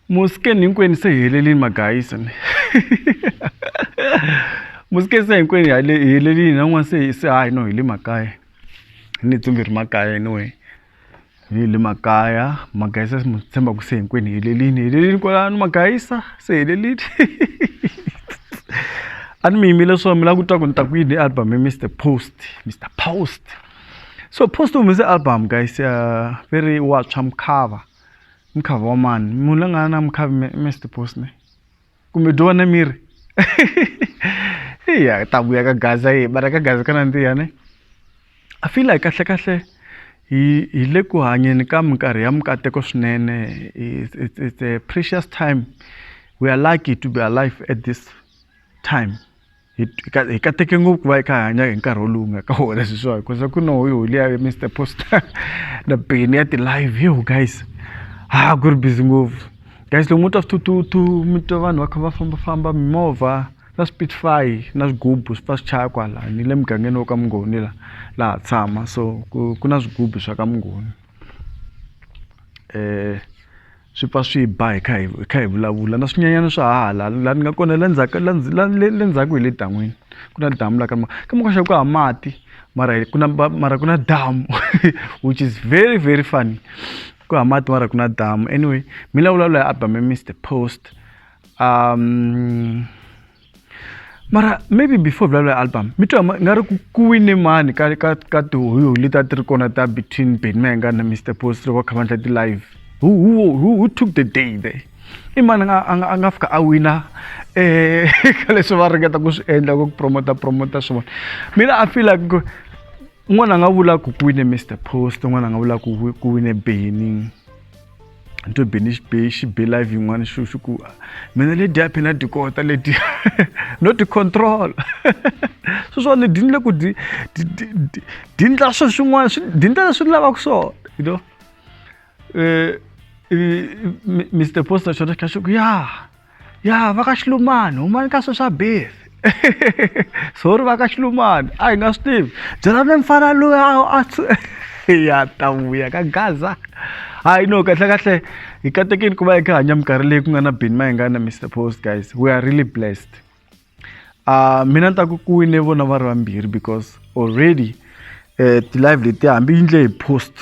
musikeni hinkwenu se hi helelini magayisi ni musikeni se hinkwenu hi hale- hi helelini na n'wana se se hayi no hi le makaya hi ni tsumbi ri makaya anyway hi le makaya magayisa mu tshemba ku se hinkwenu hi helelini hi helelini kwalano magayisa se hi helelini a ni mi yimile swo mi la ku twa ku ni ta ku yini album hi mr post mr post so post humese album guys uh, ve ri wa tshwa mukhava mukhava wa mani munhu la nga na mukhavi mr post ne kumbe dyo wa na miri iya ta vuya ka gaza yi bara ka gaza ka nandziha ne i feel like kahle kahle hi hi le ku hanyeni ka minkarhi ya mikateko swinene it's, it's a precious time we are lucky to be alive at this time hi ka- hi kateke ngopfu ku va hi kha hi hanya hi nkarhi wolowu nga ka wona sweswiwa hikuza ku no hi holi ya mr poster na beni ya ti-live yo guys ha ku ri busy ngopfu guys loko mo twa swithuthuthu mi twa vanhu va kha va fambafamba mimovha na spitfy na swigubu swi pfa swi chaya kwala ni le mugangeni wo ka mungoni la laha tshama so ku ku na swigubu swa ka mungoni um swi pfa swi ba hi kha hi hi kha hi vulavula na swinyanyana swa hala la ni nga kona la ndzhaku la le le ndzhaku hi le dan'wini ku na damu la ka ma ka ma ku hava mati mara ku na mara ku na damu which is very very funny ku hava mati mara ku na damu anyway mi la vulavula hi Abraham Mister Post um mara maybe before vulavula album mi twa nga ri ku ku wine mani ka ka ka tihoyo leti a ti ri kona ta between beni mayenga na mr post loko va kha va endla ti-live who, who, who, who took the day there i mani a nga a nga a nga fika a wina eh ka leswi va ringeta ku swi endla ku promota promota swivona mina i feel like ku un'wana a nga vula ku ku wine mr post un'wana a nga vula ku ku wine beni ni to be ni xi be xi be live yin'wana xi xi ku mina le dya phina ti kota le dya no ti control so swo ni dyi ni le ku dyi dyi ndla swo swin'wana swi dyi ndla leswi ni lavaka swona you know eh Mister Post na xona xi kha xi ku ya. ya vakaxilumani humani ka sweswa beef sorry vakaxilumani a hi nga swi tivi byelani mfana loyi a ya ta vuya ka gaza hayi no kahle kahle hi katekeni ku va hi kha hanya minkarhi leyi ku nga na bini mayingana mr post guys we are really blessed uh, mina ni ta ku ku wine vona va ri vambirhi because already eh, ti-live leti hambi yi ndle hi post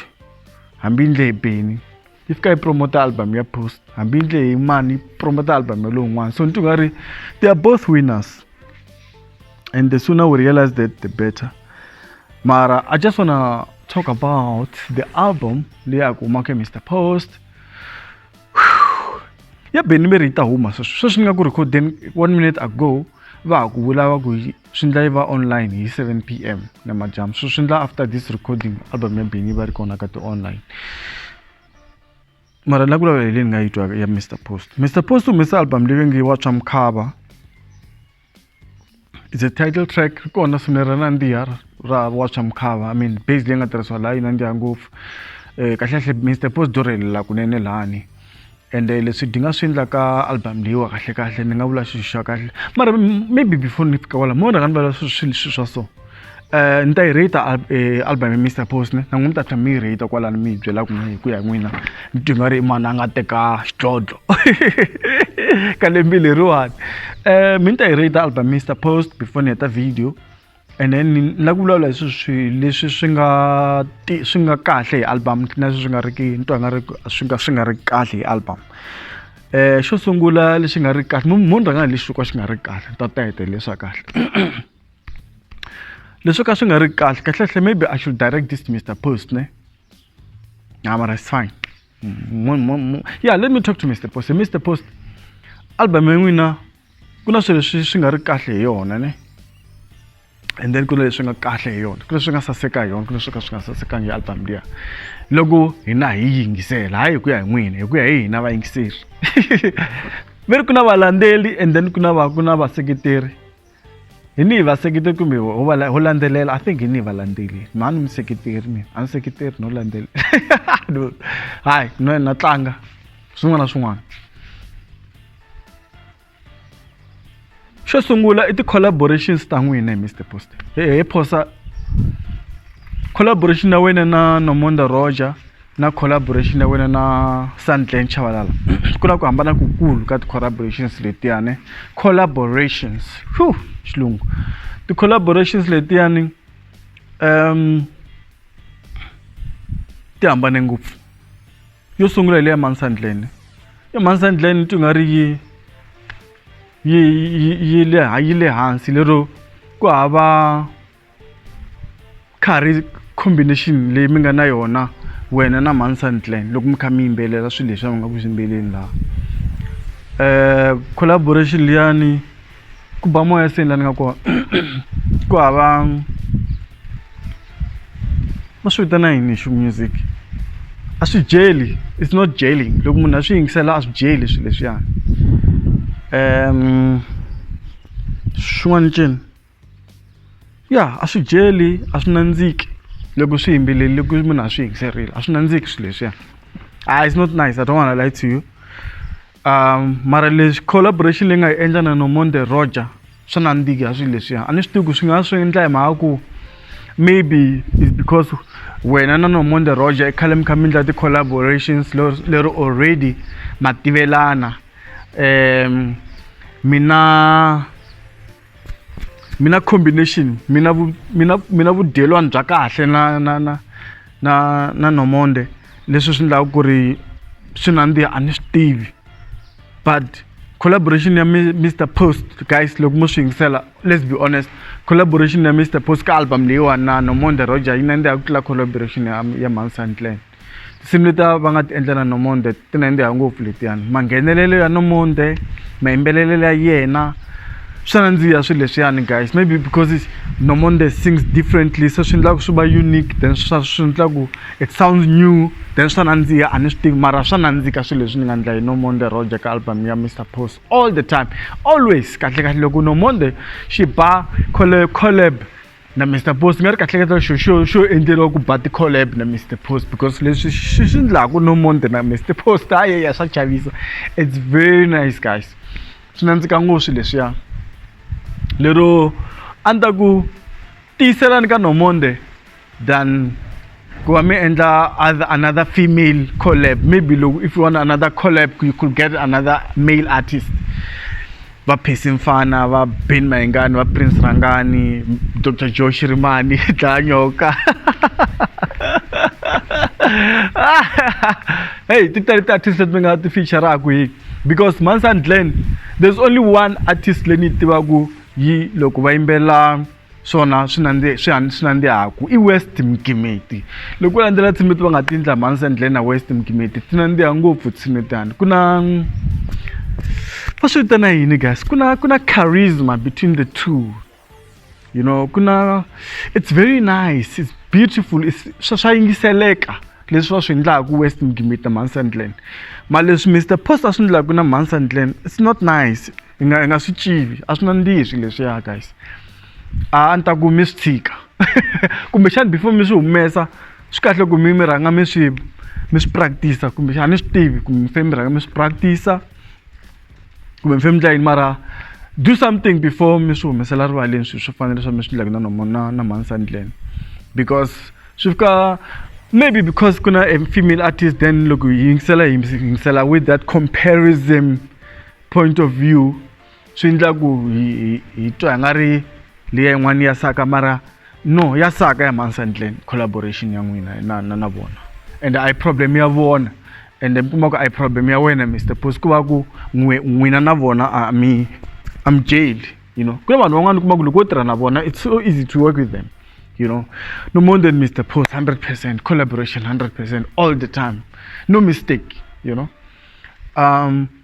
hambi yi ndle hi beni yi fika yi promota album ya post hambi yi ndle hi mani yi promota album ya lowun'wana so ni ti nga ri they are both winners and the sooner we realize that the better mara i just wanna talk about the album leyi a ku humaka mr post ya beni mi ri yi ta huma sweswi sweswi ni nga ku rhikhodeni one minute ago va ha ku vula va ku swi ndla yi va online hi 7 p m namadyambu so swi ndla after this recording album ya beni yi va ri kona ka ti-online mara la ku lava hi leyi ni nga yi twaka ya mr post mr post u humesa album leyi nge wa swa mukhava it's a title track ri kona swinene ra nandziha ra wacha mukhava i mean base leyi nga tirhisiwa laha yi nandziha ngopfu um kahlekahle mr post do rhelela kunene lani ende eh, leswi dinga swi endla ka album leyiwa kahlekahle ni nga vula xilo xa kahle mara maybe before ni fika kwala mo rhanga ni vala swilo swa so Eh, ni ta yi rate eh, album ya mr post ne na n'wi mi ta tlha mi yi rate kwalani mi yi byela ku hi ku ya n'wina ni twi nga ri mani a nga teka xidlodlo ka lembi leriwani eh, um mi ni ta yi rate album mr post before ni heta video and then ni la ku vulavula hi swi swi leswi swi nga swi nga kahle hi album na leswi swi nga ri ki ni twa nga ri swi nga swi nga ri kahle hi album um xo sungula lexi nga ri kahle munhu rhanga hi lexi xo ka xi nga ri kahle ni ta ta hetelele swa kahle leswo ka swi nga ri kahle kahlekahle maybe i should direct this to mr post ne nah, mara it's fine yeah let me talk to mr post mr post album ya n'wina ku na swilo leswi swi nga ri kahle hi yona ne and then ku na leswi nga kahle hi yona ku leswi nga saseka hi yona ku leswi ka swi nga sasekanga hi album liya loko hina hi yingisela hayi hi ku ya hi n'wina hi ku ya hi hina vayingiseri ve ri ku na valandzeli and then ku na va ku na vaseketeri hi ni vaseketeri kumbe ho landzelela i think hi ni valandzeli na ni museketeri mina a ni seketeri no landzelela hayi no na tlanga swin'wana na swin'wana xo sungula i ti-collaborations ta n'wina hi mr post hi phosa collaboration ya wena na nomonda roger na collaboration ya wena na Sandile Chabalala ku na ku hambana ku kulu ka ti-collaborations letiyani collaborations xilungu ti-collaborations letiyani ti hambane ngopfu yo sungula hi le ya mhani Sandile ya mhani Sandile ni twi nga ri yi yi yi yi le yi le hansi lero ku hava ka ha ri combination leyi mi nga na yona wena na mansantlan loko mi kha mi yimbelela swilo leswi a mi nga ku swi yimbeleni laha um collaboration liyani ku ba moya seni la ni nga kona ku hava va swi vitana yini xi music a swi byeli it's not jailing loko munhu a swi yingisela a swi byeli swilo leswiyani um xin'wana i ncini. ya a swi dyeli a swi nandziki loko swi yimbelele loko munhu a swi yingiserile a swi nandziki swilo leswiya a it's not nice i don't wanna lie to you mara lexi collaboration leyi nga yi endla na nomonde roger swa nandzika swilo leswiya a ni swi tivi ku swi nga swi endla hi mhaka ku maybe is because wena na nomonde roger i khale mi kha mi endla ti-collaborations lero already ma tivelana um mina mina combination mina vu mina mina vudyelwani bya kahle na na na na na nomonde leswi swi endlaka ku ri swi nandziha a ni swi tivi but collaboration ya mr post guys loko mo swi yingisela let's be honest collaboration ya mr post ka album leyiwani na nomonde roger yi nandziha ku tlula collaboration ya ya mansantlen tinsimu letiya va nga ti endlela nomonde ti nandziha ngopfu letiyani manghenelelo ya nomonde mayimbelelelo ya yena swa nandziha swilo leswiyani guys maybe because nomonde sings differently se swi endlaka swi va unique then swa swi endlaku it sounds new then swa nandziha a ni swi tivi mara swa nandzika swilo leswi ni nga endla hi nomonde roger ka album ya mr post all the time always kahlekahle loko nomonde xi ba collab na Mister Post mi nga ri kahle kahle xo xo xo endleriwa ku ba ti-collab na Mister Post because leswi swi swi endlaku no monde na Mister Post ha yey a swa chavisa it's very nice guys swi nandzika ngo swi leswiya lero a ni ta ku tiyiselani ka no monde than. ku va mi endla other another female collab maybe loko if you want another collab you could get another male artist va phesi mfana va ben mayengani va prince rangani dr joe shirimani dlaya nyoka hey ti tele ti-artist leti mi nga ti featuraka hi because mansan glen there's only one artist leyi ni yi tivaka yi loko va yimbelela swona swi nandziha swi han swi nandzihaku i west mgimeti loko u landzela tshimiti va nga ti endla mhansi endleni na west mgimeti ti nandziha ngopfu tshimitani ku na va swi vitana yini guys ku na ku na charisma between the two you know ku na it's very nice it's beautiful swa swa yingiseleka leswi va swi endlaku west mgimeti na mhansi endleni mara leswi mr post a swi endlaku na mhansi endleni it's not nice hi nga hi nga swi tivi a swi nandzihi swilo leswiya guys a ni ta ku mi swi tshika kumbexana before mi swi humesa swi kahle ku mi mi rhanga mi swi mi swi practice-a kumbexana ni swi tivi kumbe mi fanele mi rhanga mi swi practice-a kumbe mi fanele mi dla yini mara do something before mi swi humesela rivaleni swilo swo fana leswi mi swi endlaka na na na mhani sandlen because swi fika maybe because ku na a female artist then loko hi yingisela hi yingisela with that comparison point of view swi endla ku hi hi twa hi nga ri leya yin'wana ya saka mara no ya saka ya mansandlen collaboration ya n'wina na na na vona and a yi problem ya vona and mi kuma ku a yi problem ya wena mr pos ku va ku n'wina na vona a mi a mi jeli you know ku na vanhu van'wana kuma ku loko wo tirha na vona it's so easy to work with them you know no more than mr pos 100 percent collaboration 100 percent all the time no mistake you know um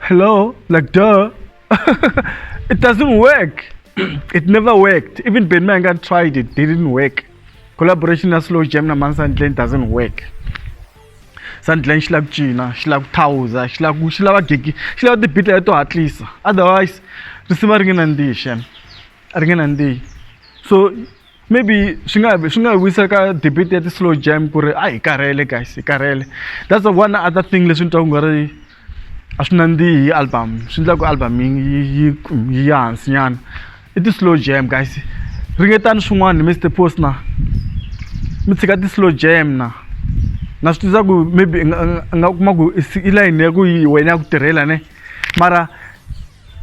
Hello? Like, duh. it doesn't work. it never worked. Even Ben Mangan tried it, didn't work. Collaboration na slow jam na man Sandlane doesn't work. Sandlane xi lava ku cina, xi lava ku thawuza, xi lava ku xi lava gigi, xi lava ti-beat leto hatlisa. Otherwise, risimu a ri nge nandzihi xana. A ri nge nandzihi. So maybe swi nga swi nga hi vuyisa ka debate ya ti-slow jam ku ri a hi karhele guys hi karhele that's the one other thing leswi ni twa ku nga ri a swi nandzihi hi album swi endla ku album yi yi yi ya hansinyana i ti-slow jam guys ringetani swin'wana mr post na mi tshika ti-slow jam na na swi tiva ku maybe i nga kuma ku i layini ya ku yi wena ya ku tirhela ne mara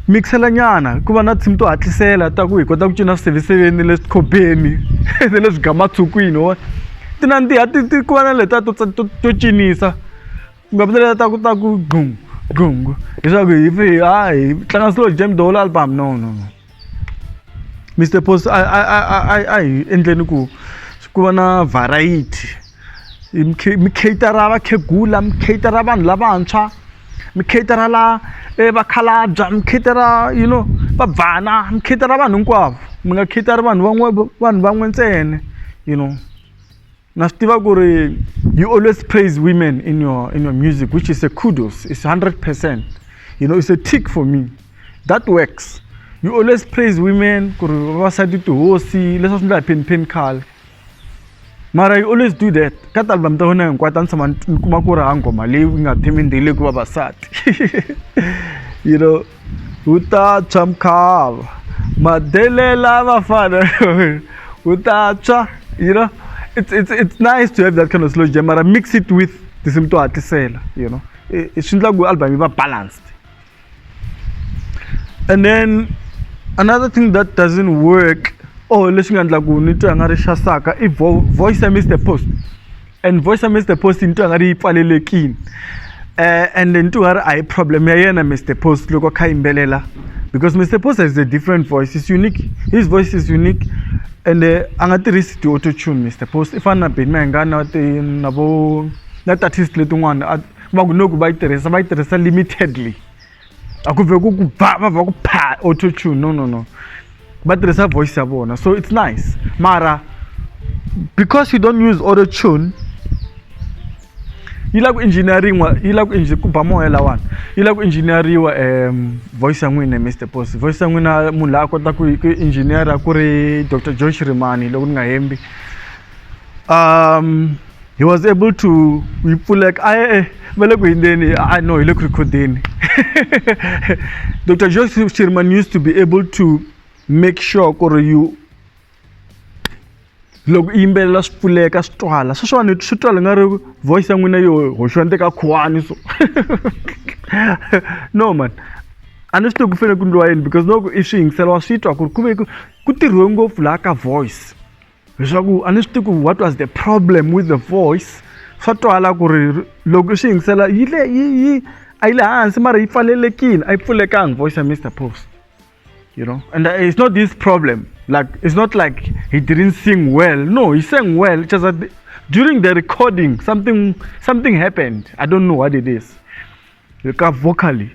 mikisela nyana ku va na tinsimu to hatlisela ta ku hi kota ku cina swiseviseveni ni le swikhobeni ni le swigamatshukwini wa ti nandziha ti ti ku va na letiya to to to cinisa ku nga vi na letiya ta ku ta ku gqum gqum leswaku hi pfe hi ha hi tlanga slow jam the whole album no no no Mister Post a a a a a hi endleni ku ku va na variety. hi mi khe mi cater-a vakhegula mi cater-a vanhu lavantshwa mi cater-a la e vakhalabya mi cater-a you know vabvana mi cater-a vanhu hinkwavo mi nga cater-i vanhu van'we vanhu van'we ntsena you know na swi tiva ku ri you always praise women in your in your music which is a kudos is hundred percent you know is a tick for me that works you always praise women ku ri vavasati tihosi leswi a swi nga hi phenipheni khale mara you always do that ka ti-album ta wena hinkwato a ni tshama ni kuma ku ri ha nghoma leyi yi nga themendeli ku vavasati you know wu ta tshwa mkhava madelela vafana wu ta tshwa you know it's, it's, it's nice to have that kind of slow jam mara mix it with tinsimu to hatlisela you know swi endla ku album yi va balanced and then another thing that doesn't work or oh, leswi nga endla ku ni twa nga ri xasaka i voice ya mr post and voice ya mr post ni twa nga ri yi pfalelekile um and ni twa nga ri a hi problem ya yena mr post loko kha yimbelela because mr post has a different voice is unique his voice is unique and eh, a nga tirhisi ti-auto tune mr post i fana na beni mayengana na vo na ti-artist letin'wana va ku loko va yi tirhisa va yi tirhisa limitedly a ku vhe ku ku ba va va ku pha auto tune no no no va tirhisa voice ya vona so it's nice mara because you don't use auto tune yi la ku engineering wa yi la ku engineer ku ba moya lawani yi la ku engineeriwa um voice ya n'wina Mister Post voice ya n'wina munhu la a kota ku ku engineer ku ri Doctor Joy Shirimani loko ni nga hembi um he was able to yi pfuleka a e va le ku hindzeni i know hi le ku rhikhodeni dr jose sherman used to be able to make sure ku ri you loko i yimbelela swi pfuleka swi twala sweswiwani swi twala nga ri voice ya n'wina yo hoxiwa ni teka khuwani so no man a ni swi tivi ku fanele ku ndliwa yini because loko i swi yingisela wa swi twa ku ri ku ve ku tirhiwe ngopfu laha ka voice leswaku a ni swi tivi ku what was the problem with the voice swa twala ku ri loko xi yingisela yi le yi yi a yi le hansi mara yi pfalelekile a yi pfulekanga voice ya mr post you know and uh, it's not this problem like it's not like he didn't sing well no he sang well just that during the recording something something happened i don't know what it is le ka vocally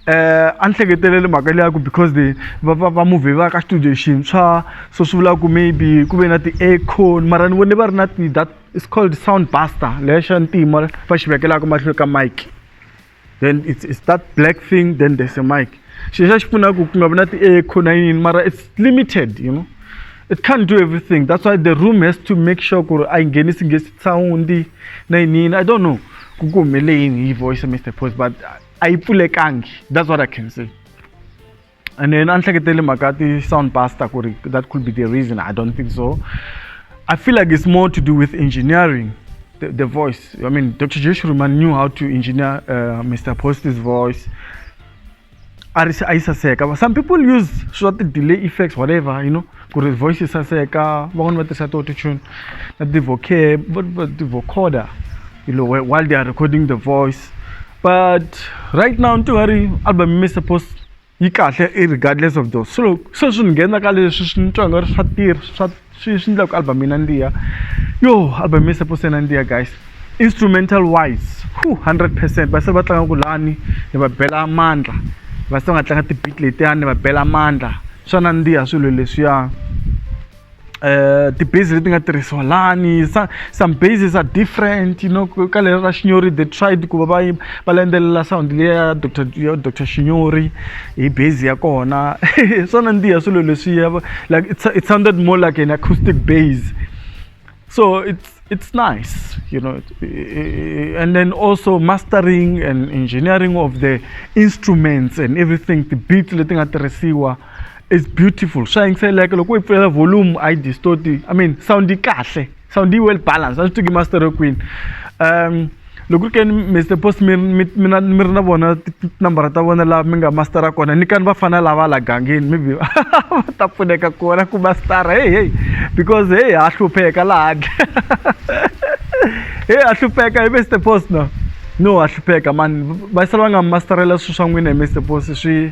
eh a ni hleketeleli mhaka leya ku because the va va va movie va ka studio xintshwa so swi vula ku maybe ku ve na ti-acon mara ni vone va ri na ti that is called sound buster leya xa ntima va xi vekelaka mahlweni ka mike then it's, it's that black thing then there's a mike xilo xa xi pfunaka ku nga vi na ti-echo na yini mara it's limited you know it can't do everything that's why the room has to make sure ku ri a yi nghenisi ngesi sound na yini yini i don't know ku ku humele yini hi voice ya mr post but a yi pfulekangi that's what i can say and then a ni hleketele mhaka ti-sound buster ku ri that could be the reason i don't think so i feel like it's more to do with engineering the, the voice i mean dr joshua knew how to engineer uh, mr post's voice a ri se a yi saseka va some people use swa ti-delay effects whatever you know ku ri voice yi saseka van'wani va tirhisa to tune na ti-vocoder you know while they are recording the voice but right now ni ti nga ri album mi suppose yi kahle regardless of those so se swi ni nghena ka leswi swi ni twa nga ri swa tirha swa Swi swi endla ku album yi nandziha yo album yi suppose yi nandziha guys instrumental wise hundred percent va se va tlanga ku lani ni va bela mandla va se va nga tlanga ti-beat letiyani ni va bela mandla swa nandziha swilo leswiya ti-base leti nga tirhisiwa lani sa some bases are different you know ka leri ra xinyori they tried ku va va yi va landzelela sound liya ya doctor ya doctor xinyori. hi base ya kona hi swona ndi ya swilo leswiya like it's, it sounded more like an acoustic base so it's it's nice you know and then also mastering and engineering of the instruments and everything the beat leti nga tirhisiwa is beautiful swa yingiseleka loko u yi pfulela volume a yi distort i mean sound yi kahle são de well balance a swi tiva master kwini um loko ri ke ni mr post mi mi mi na mi ri na vona tinambara ta vona laha mi nga mastera kona ni kani va fana lava la gangeni maybe va ta pfuneka kona ku mastera hey hey because hey ha hlupheka laha handle hey ha hlupheka hi mr post no no ha hlupheka mani va sala va nga masterela swilo swa n'wina hi mr post swi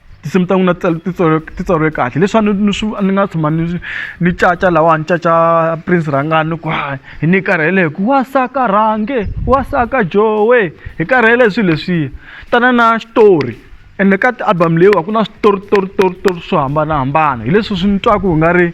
tinsimu ta n'wina ti ti tsariwe kahle leswi a ni ni swi ni nga tshama ni ni caca lahawani ni caca Prince Rhangani ni ku hayi hi ni karhele hi ku wansaka rhange wansaka joe hi karhele hi swilo leswiya tana na xitori ende ka ti-album leyiwani ku na switori tori tori tori swo hambanahambana hi leswi swi ni twaka ku nga ri.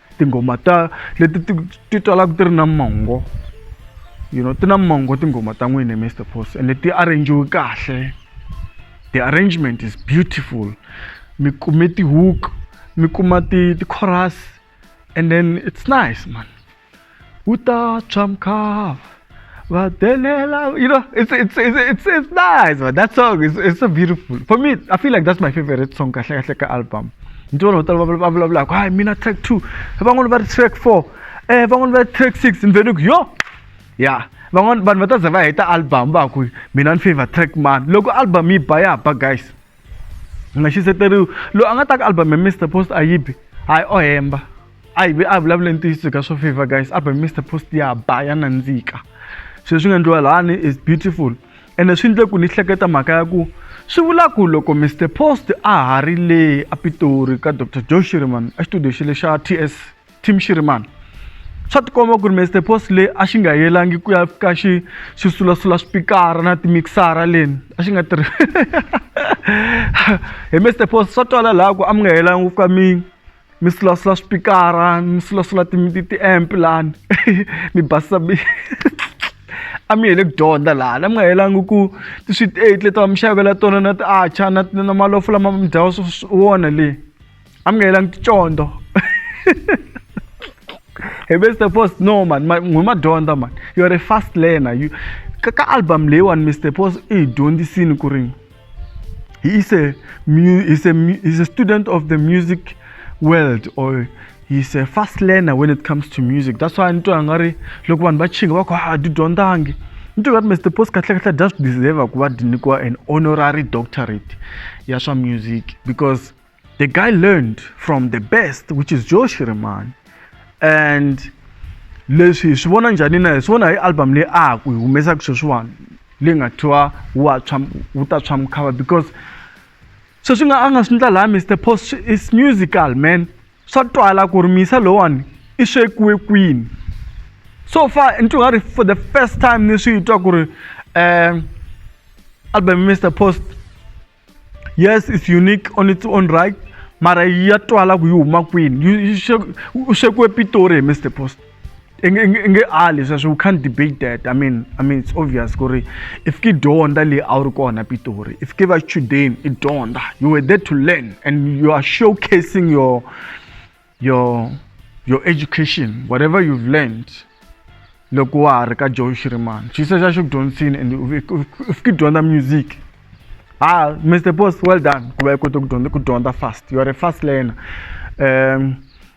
tinghoma ta leti ti ti twalaka ti ri na mongo you know ti na mongo tinghoma ta n'wini mr post ende ti arrangiwe kahle the arrangement is beautiful mi kume ti-hook mi kuma ti ti-chorus and then it's nice man Uta Chamkov. Vadelela, you know, it's it's it's it's, it's nice, man. That song is it's so beautiful. For me, I feel like that's my favorite song, Kahle Kahle album. Ndi vanhu vo tala va vula vula ku hayi mina track two van'wana va ri track four um van'wana va ri track six ni veni ku yo ya van'wana vanhu va ta za va heta album va ku mina ni favor track mani loko album yi ba ya ba guys a nga xiseteriwi loyi a nga ta ka album ya Mister Post a yi bi hayi o hemba a yi vi a vulavule ntiyiso ka swo favor guys album Mister Post ya ba ya nandzika sweswi swi nga endliwa lani is beautiful ene swi endle ku ni hleketa mhaka ya ku swi vula ku loko Mister Post a ha ri le a Pitori ka Doctor Joe Shireman exitudiyo xa le xa TS Team Shirimani. Swa tikomba ku ri Mister Post le a xi nga yelangi ku ya fika xi xi sulasula swipikara na timixara leni a xi nga tirhi hi Mister Post swa twala laha ku a mi nga yelangi ku fika mi mi sulasula swipikara mi sulasula ti ti ti-amp lani mi basisa mi a mi yele ku dyondza laha la mi nga yelangi ku ti-sweet eight leti va mi xavela tona na ti-archer na na malofo lama mi dyaku wona le. amukela ngitshonto hey mr post no man ngumadonda man you're a fast learner you ka ka album leyiwani mr post i hi dyondzisini ku ri he is a he's a he's a student of the music world or he's a fast learner when it comes to music that's why ni twa nga ri loko vanhu va chinga va ku ha di dyondzangi ni twa nga ri mr post kahlekahle dya swi deserve ku va di nyikiwa an honorary doctorate ya swa music because The guy learned from the best which is Joe Shirimani and leswi hi swi vona njhani na hi swi vona hi album leyi a ha ku hi humesaka sweswiwani leyi nga thiwa wa tshwa wu ta tshwa mukhava because sweswi nga a nga swi ndla laha Mr Post is musical man swa twala ku ri misa lowani i swekiwe kwini so far ni twi nga ri for the first time ni swi twa ku ri um album Mr Post yes it's unique on its own right mara ya twala ku yi huma kwini u xekiwe pitori hi mr post i nge ali sweswo u can't debate that i mean i mean it's obvious ku ri i fike dyondza leyi a wu ri kona pitori i fike va chudeni i dyondza you were there to learn and you are showcasing your your your education whatever you've learned loko wa ha ri ka joe shirimani xi se xa xi ku dyondzisini and u fiki dyondza music ah mr boss well done ku va i kote ku dyondza ku dyondza fast you are a fast learner um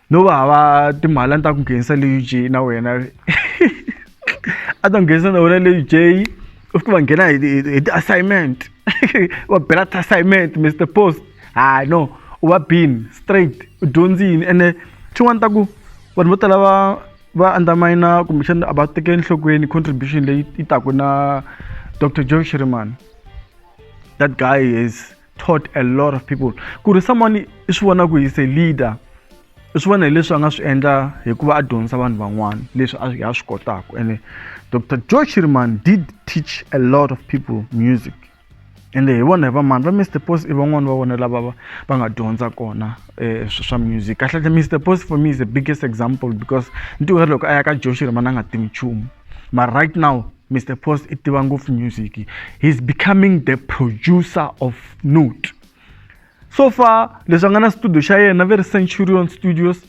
no va hava timali a ni ta ku nghenisa le uj na wena a ta nghenisa na wena le uj u fike va nghena hi ti-assignment va bela ti-assignment mr post hayi no u va bini straight u dyondzi yini ene xin'wana ta ku vanhu vo tala va va undermine kumbexana a va teke enhlokweni contribution leyi yi taku na dr john shirimani that guy is taught a lot of people ku ri someone i swi vona ku he's a leader i swi vona hileswi a nga swi endla hikuva a dyondzisa vanhu van'wana leswi a ha swi kotaka ene dr joe shirimani did teach a lot of people music ende hi vona hi va mani va Mister Post i van'wani va vona lava va va nga dyondza kona swa music kahlekahle Mister Post for me is the biggest example because ntivo loko a ya ka Joh Shirimani a nga tivi nchumu mara right now Mister Post i tiva ngopfu music he's becoming the producer of note. So far leswi a nga na studio xa yena va ri Centurion Studios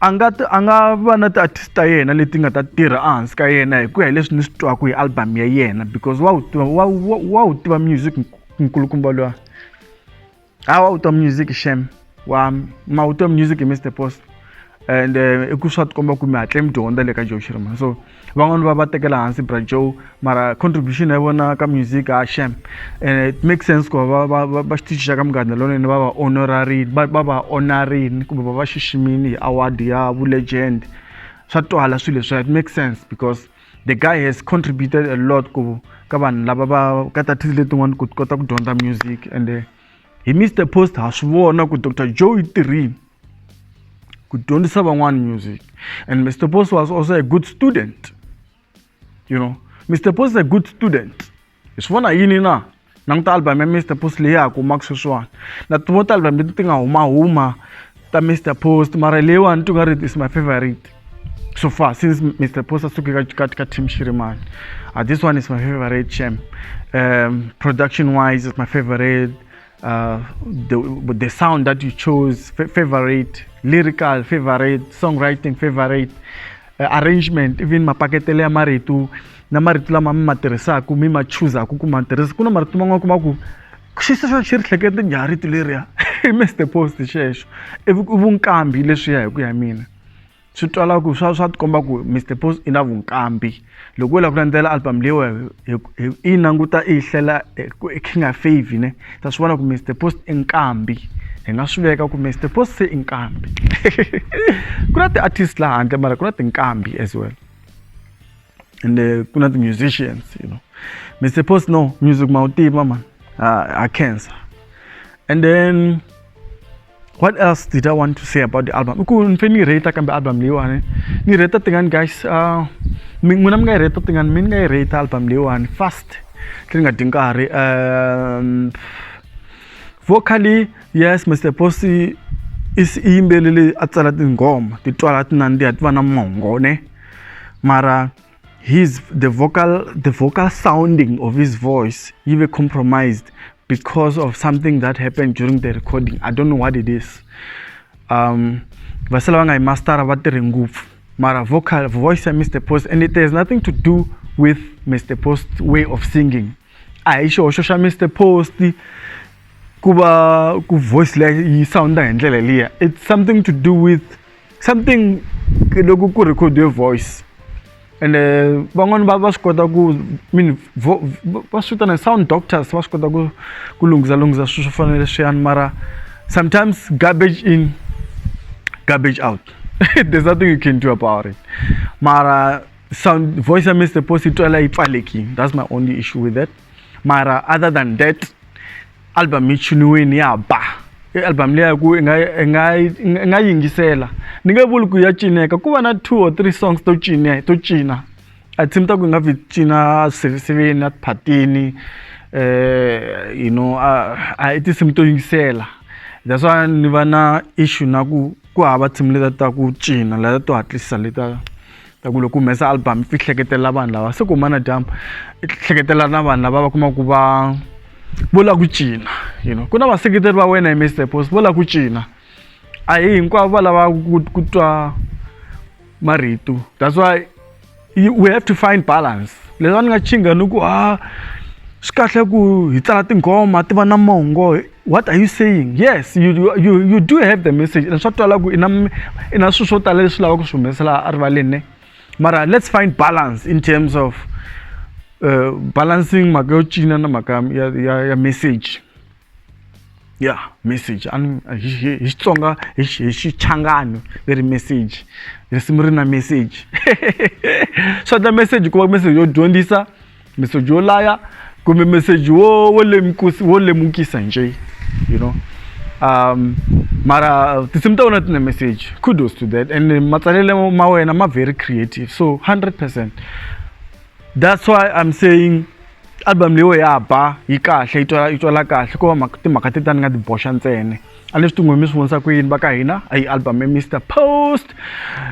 a nga a nga va na ti-artist ta yena leti nga ta tirha ehansi ka yena hi ku ya hi leswi ni swi twaka hi album ya yena because wa wu tiva wa wa wa wu tiva music nkulukumba luwa ha wa wu tiva music shame wa ma wu tiva music Mister Post and eh, i ku swa tikomba ku mi hatle mi dyondza le ka joe shirman so van'wani va va tekela hansi bra joe mara contribution ya vona ka music a ah, sham and eh, it makes sense ku va va va xitichi xa ka muganda lonene va va honorarini va va honorarini kumbe va va xiximini hi award ya vulegend swa twala swilo leswiya it makes sense because the guy has contributed a lot ku ka vanhu lava va ka tatisi letin'wana ku kota ku dyondza music and eh, hi mr post ha swi vona ku dr joe i tirhini ku dyondzisa van'wana music and mr post was also a good student you know mr post is a good student hi swi vona yini na languta album ya mr post leyi ya kumaka sweswiwani na tin'wo ta album leti ti nga humahuma ta mr post mara leyiwani ti nga ri is my favorite so far since mr post a suke ka ka team shirimani uh, this one is my favorite champ um, production wise is my favorite uh, the, the sound that you chose, favorite, lyrical, favorite, songwriting, favorite, uh, arrangement, even mapaketele ya marito na marito lama mi ma tirhisaka mi ma chuzaku ku ma tirhisa ku na marito man'wana kuma ku xi se xi ri hlekete njhani rito leriya i mr post xexo i vunkambi leswiya hi ku ya mina swi twala ku swa swa tikomba ku mr post i na vunkambi loko u lava ku landzela album leyi wa i yi languta i yi hlela e king of favy ne ta swi vona ku mr post i nkambi hi nga swi veka ku mr post se i nkambi ku na ti-artist laha handle mara ku na tinkambi as well and eh, ku na ti-musicians you know mr post no music ma wu tiva mani ha cancer and then what else did i want to say about the album i ku ni fe ni rate kambe album leyiwani ni rate tingani guys uh, n'wina mi nga yi rate tingani mi ni nga yi rate album leyiwani fast tini nga dyi nkarhi um vocally yes mr posty i yimbeleri a tsala tinghoma ti twala ti nandziha ti va na mongo ne mara his the vocal the vocal sounding of his voice he were compromised because of something that happened during the recording i don't know what it is um vasala vanga master vatirhi ngopfu mara vocal voice ya mr post and it has nothing to do with mr post way of singing a hi xihoxo xa mr post ku va ku voice leyi yi sounda hi ndlela liya it's something to do with something loko ku record-iwe voice ende van'wani va va swi kota ku mean va swi vitana sound doctors va swi kota ku ku lunghisa lunghisa swilo swo fana na leswiyani mara sometimes garbage in garbage out there's nothing you can do about it mara sound voice ya Mister Post yi twala yi pfalekini that's my only issue with that mara other than that album yi chiniwini ya ba i album leyi ku i nga i nga i nga yingisela ni nge vuli ku ya cineka ku va na two or three songs to cina to cina a team ta ku nga vi cina sirhisireni a tiphatini eh you know a a i tinsimu to yingisela that's why ni va na issue na ku ku hava team leta ta ku cina leta to hatlisa leta ta ku loko humesa album i hleketela vanhu lava se ku humana dyambu i hleketela na vanhu lava va kuma ku va vo la ku cina you know ku na vaseketeri va wena hi mr post vo la ku cina a hi hinkwavo va lava ku twa marito that's why we have to find balance leswi a ni nga chinga ni ku ha swi kahle ku hi tsala tinghoma ti va na mongo. what are you saying yes you, you, you do have the message and swa twala ku ina ina swilo swo tala leswi lavaka ku swi humesela erivaleni ne mara let's find balance in terms of uh, balancing mhaka yo cina na mhaka ya, ya, ya message ya yeah, message hi xitsonga hi xichangani leri message risimu ri na message swa ta message ku va message yo dyondzisa meseji wo laya kumbe meseji wo wo lemukisa wo lemukisa nje you know um mara tinsimu ta wena tine message kudos to that and matsalele ma wena ma very creative so 100 percent that's why i'm saying album leyiwe ya ba yi kahle yi twala yi twala kahle ko va timhaka ti ta ni nga ti boxa ntsena a ni swi tingo mi swi vonisa ku yini va ka hina a yi album ya mr post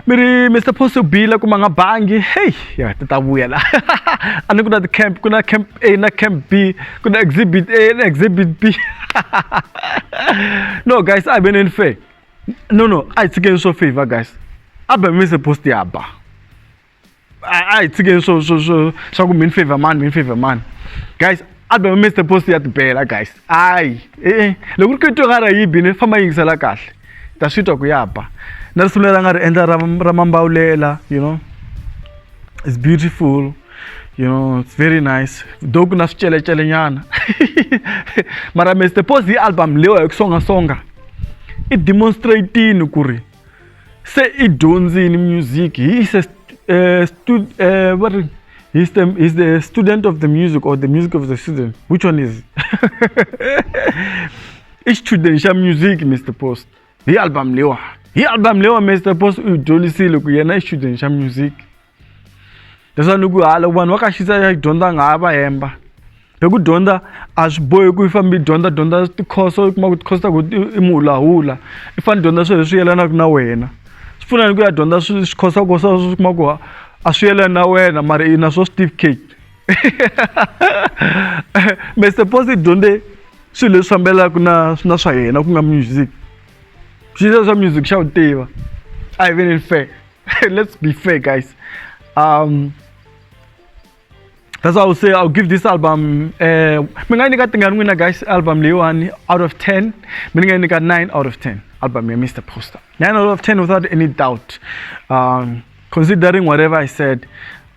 mi ri mr post yo bile kuma nga bangi heyi ya ti ta vuya la a ni ku na ti-camp ku na camp a na camp b ku na exhibit a na exhibit b no guys a hi veneni fair no no a hi tshikeni swo favor guys album ya mr post ya ba a a hi tshikeni swo swo swo swa ku min favor mani min favor mani guys album mr post ya tibela guys hayi e-e loko ri kuyitwa nga ra yi bini famba yingisela kahle ta swi twa ku ya ba na risimu leri a nga ri endla ra ra mambawulela you know it's beautiful you know it's very nice though ku na swicelecele nyana mara mr post hi album leyiwa hi ku songasonga i demonstratini ku ri se i dyondzini music he is a uh, stud, uh, what he's the, he's the student of the music or the music of the student which one is i xichudeni xa music mr post hi album lewa hi album lewa mr post u yi dyondzisile ku yena i xichudeni xa music leswa ni ku ha loko vanhu va ka xisa ya dyondza nga ha va hemba hi ku dyondza a swi bohi ku i fambe i dyondza dyondza tikhoso i kuma ku tikhoso ta ku i muhulahula i fanele dyondza swilo leswi yelanaka na wena swi pfuna ni ku ya dyondza swikhosakosa swi kuma ku a swi yelani na wena mara i na swo certificate me suppose i dyondze swilo leswi fambelaka na na swa yena ku nga music xilo swa music xa wu tiva a hi veneni fair let's be fair guys um that's why i would say i'll give this album uh mi nga yi nyika tingani n'wina guys album leyiwani out of 10 mi ni nga yi nyika 9 out of 10 album ya mr poster 9 out of 10 without any doubt um considering whatever i said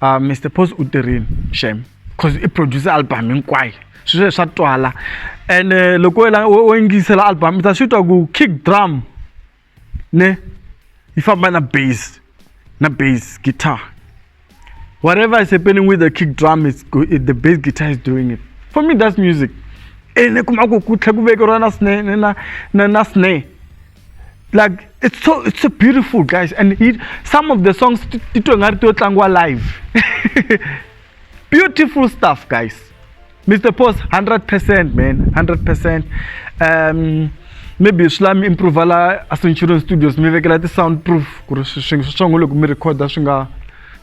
uh, mr post u tirhini shame because i produce album hinkwayo sweswo swa twala and eh, loko wo yingisela album i ta swi twa ku kick drum ne yi famba na base na base guitar whatever is happening with the kick drum is the base guitar is doing it for me that's music ene kuma ku ku tlhe ku vekeriwa na sne na na na sne like it's so it's so beautiful guys and it, some of the songs titwe nga ri to tlangiwa live beautiful stuff guys mr post 100% man 100% um maybe swi lami improve la a centurion studios mi vekela ti-sound proof ku ri swingi swa swongo loko mi recorda swi nga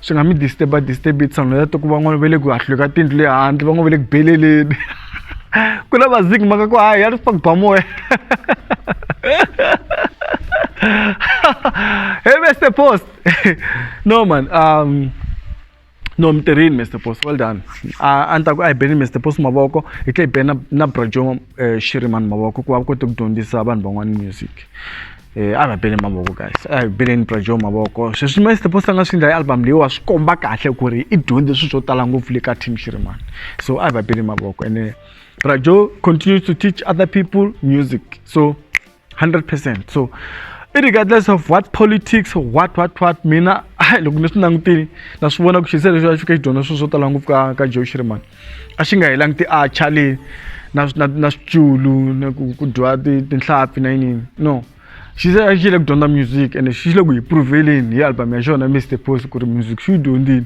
swi nga mi disturba disturb sound ya to ku van'wana va le ku hahlwe ka tindlu le handle van'wana va le ku beleleni ku na vaziki maka ku hayi ya ri swa ku ba moya hey mr post no man um no mi tirhini Mister Boss well done a a ni ta ku a hi beni Mister Boss mavoko hi tlhe hi beni na na Bra Joe Shirimani mavoko ku va kote ku dyondzisa vanhu van'wana music a va bele mavoko guys a hi beleni Bra Joe mavoko sweswi Mister Boss a nga swi endla hi album leyi wa swi komba kahle ku ri i dyondze swilo swo tala ngopfu le ka team Shirimani so a hi va bele mavoko ene Bra Joe continue to teach other people music so. 100% so irregardless of what politics what what what mina loko ni swi langutile na swi vona ku xisele xo xo ka xi dyondza swilo swo tala ngopfu ka ka joe shirimani a xi nga hi languti acha le na na na switsulu na ku ku dyiwa tinhlampfi na yinini no xi se a xi le ku dyondza music and xi le ku hi provheleni hi album ya xona mr post ku ri music xi yi dyondzile